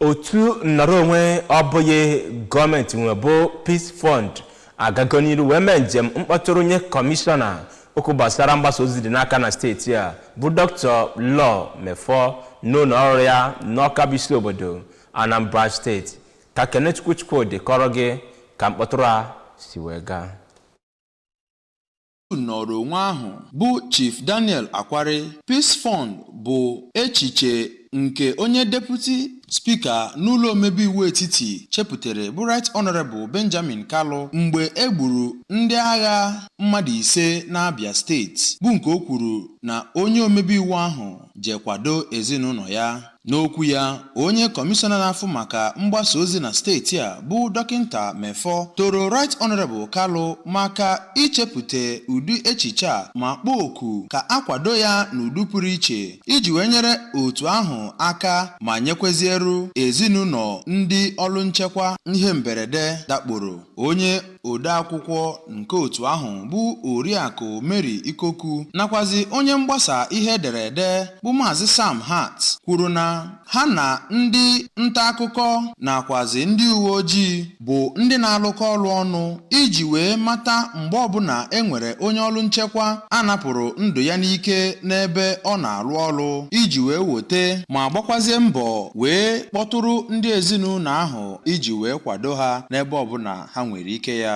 otu nnọrọ onwe ọ bụghị gọọmenti nwe bụ Peace Fund agago n'iru wee mee njem mkpọtụrụ nye kọmishọna okwu gbasara mgbasa ozi dị n'aka na steeti a bụ Dr. Law Mefor n'ụlọ ọrụ ya n'Awka bụ isi obodo Anambra steeti ka Kenechukwu Chukwudi kọọrọ gị ka mkpọtụrụ a si wee gaa nnọrọ onwe ahụ bụ Chief Daniel Akwari, Peace Fund bụ echiche nke onye deputi spika n'ụlọ omebe iwu etiti chepụtara bụ Right Honourable Benjamin Kalu mgbe e gburu ndị agha mmadụ ise n'Abia steeti bụ nke o kwuru na onye omebe iwu ahụ je kwado ezinụlọ ya. N'okwu ya, onye kọmishọna na-afụ maka mgbasa ozi na steeti a bụ Dọkịnta Mefor toro Right Honourable Kalu maka ichepụta ụdị echiche a ma kpọọ oku ka a kwado ya n'ụdị pụrụ iche iji wee nyere otu ahụ aka ma nyekweziere ezinụlọ ndị ọrụ nchekwa ihe mberede dakporo. Onye odeakwụkwọ nke otu ahụ bụ Oriakụ Mary Ikoku nakwazi onye mgbasa ihe e dere ede bụ Maazị Sam Hart kwuru na ha na ndị nta akụkọ nakwazi ndị uwe ojii bụ ndị na-alụkọ ọrụ ọnụ iji wee mata mgbe ọbụla e nwere onye ọrụ nchekwa a napụrụ ndụ ya n'ike n'ebe ọ na-arụ ọrụ iji wee wote ma gbakwazie mbọ wee kpọtụrụ ndị ezinụlọ ahụ iji wee kwado ha n'ebe ọbụla ha nwere ike ya.